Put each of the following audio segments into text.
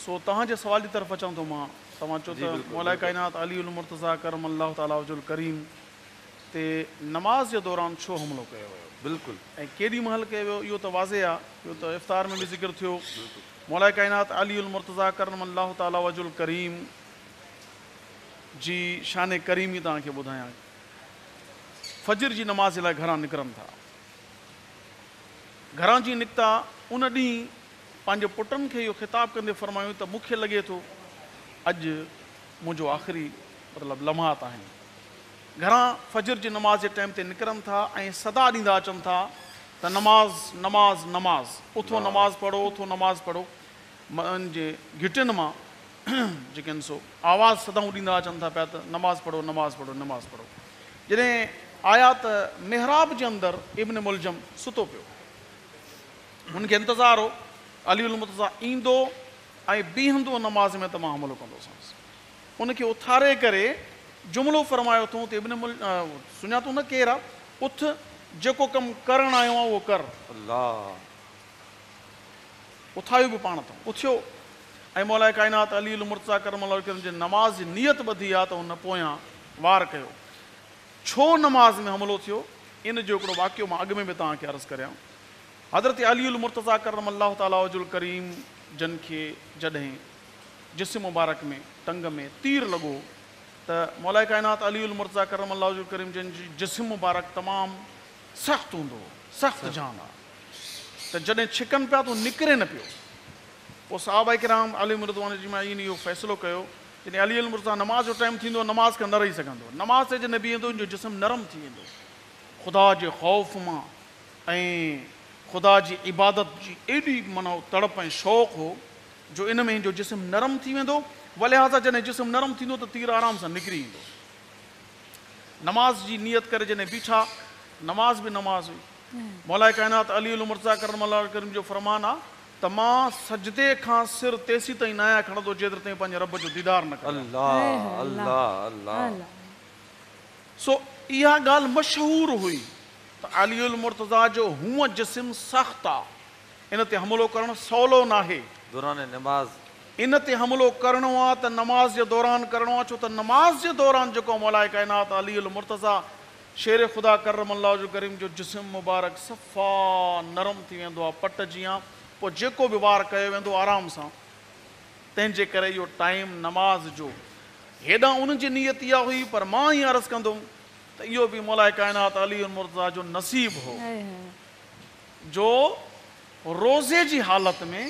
سو توهان جي سوال جي طرف اچان ٿو مان. توهان چئو ته مولائي ڪائنات علي المرتضيٰ ڪرم الله تعالٰي وجه الڪريم تي نماز جي دوران ڇو حملو ڪيو ويو ۽ ڪيڏي مهل ڪيو ويو اهو ته واضح آهي اهو ته افطار ۾ به ذڪر ٿيو مولائي ڪائنات علي المرتضيٰ ڪرم الله تعالٰي وجه الڪريم جي شان ڪريمي توهان کي ٻڌايان فجر جي نماز جي لاء گهران نڪرن ٿا گهران جي نڪتا ان ڏينهن پنهنجي پٽن کي اهو خطاب ڪندي فرمايائون ته مون کي لڳي ٿو اڄ منهنجو آخري مطلب لمحات آهن. گهران فجر جي نماز جي ٽائيم تي نڪرن ٿا ۽ صدا ڏيندا اچن ٿا ته نماز نماز نماز اٿو نماز پڙهو اٿو نماز پڙهو ان جي گهٽين مان جيڪي آهن سو آواز صدائون ڏيندا اچن ٿا پيا ته نماز پڙهو نماز پڙهو نماز پڙهو جڏهن آيا ته محراب جي اندر ابن ملجم ستو پيو هن کي انتظار هو علي المرتضيٰ ايندو ۽ بيهندو نماز ۾ ته مان حملو ڪندوسانس. ان کي اٿاري ڪري جملو فرمايو اٿئون ته ابن مل سڃاتو نه ڪير آ؟ اٿ جيڪو ڪم ڪرڻ آيو آن اهو ڪر. الله! اٿايو به پاڻ اٿئون. اٿيو ۽ مولائي ڪائنات علي المرتضيٰ ڪرم الله وجهه ڪرم جي نماز جي نيت ٻڌي آ ته هن پويان وار ڪيو. ڇو نماز ۾ حملو ٿيو، ان جو هڪڙو واقعو مان اڳ ۾ به توهان کي عرض ڪريان. حضرت علي المرتضيٰ ڪرم الله تعالٰي وجه الڪريم جن کي جڏهن جسم مبارڪ ۾ ٽنگ ۾ تير لڳو ته مولائي ڪائنات علي المرتضيٰ ڪرم الله وجه الڪريم جن جو جسم مبارڪ تمام سخت هوندو هو، سخت جان آ ته جڏهن ڇڪن پيا ته هو نڪري نه پيو. پوء صحابه ڪرام عليهم الرضوان اجمعين اهو فيصلو ڪيو جڏهن علي المرتضيٰ نماز جو ٽائيم ٿيندو نماز کان نه رهي سگهندو نماز تي جڏهن بيهندو ان جو جسم نرم ٿي ويندو خدا جي خوف مان ۽ خدا جي عبادت جي ايڏي معنيٰ تڙپ ۽ شوق هو جو ان ۾ ان جو جسم نرم ٿي ويندو ولهذا جڏهن جسم نرم ٿيندو ته تير آرام سان نڪري ايندو نماز جي نيت ڪري جڏهن بيٺا نماز به نماز هئي مولائي ڪائنات علي المرتضيٰ ڪرم الله الڪريم جو فرمان آ ته مان سجدي کان سر تيسين تائين نه آهيان کڻندو جيتري تائين پنهنجي رب جو ديدار نه ڪريان. الله الله الله. سو اها ڳالهه مشهور هئي ته علي المرتضيٰ جو هونء جسم سخت آ ان تي حملو ڪرڻ سولو ناهي. دوران نماز. ان تي حملو ڪرڻو آ ته نماز جي دوران ڪرڻو آ ڇو ته نماز جي دوران جيڪو مولاء ڪائنات علي المرتضيٰ شير خدا ڪرم الله وجه الڪريم جو جسم مبارڪ صفا نرم ٿي ويندو آهي پٽ جيان پوء جيڪو به وار ڪيو ويندو آرام سان تنهن جي ڪري اهو ٽائيم نماز جو هيڏانهن ان جي نيت اها هئي پر مان ائين عرض ڪندم ته اهو به مولائي ڪائنات علي المرتضيٰ جو نصيب هو جو روزي جي حالت ۾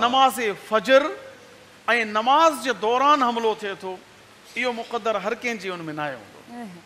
نماز فجر ۽ نماز جي دوران حملو ٿئي ٿو اهو مقدر هر ڪنهن جي ان ۾ ناهي هوندو.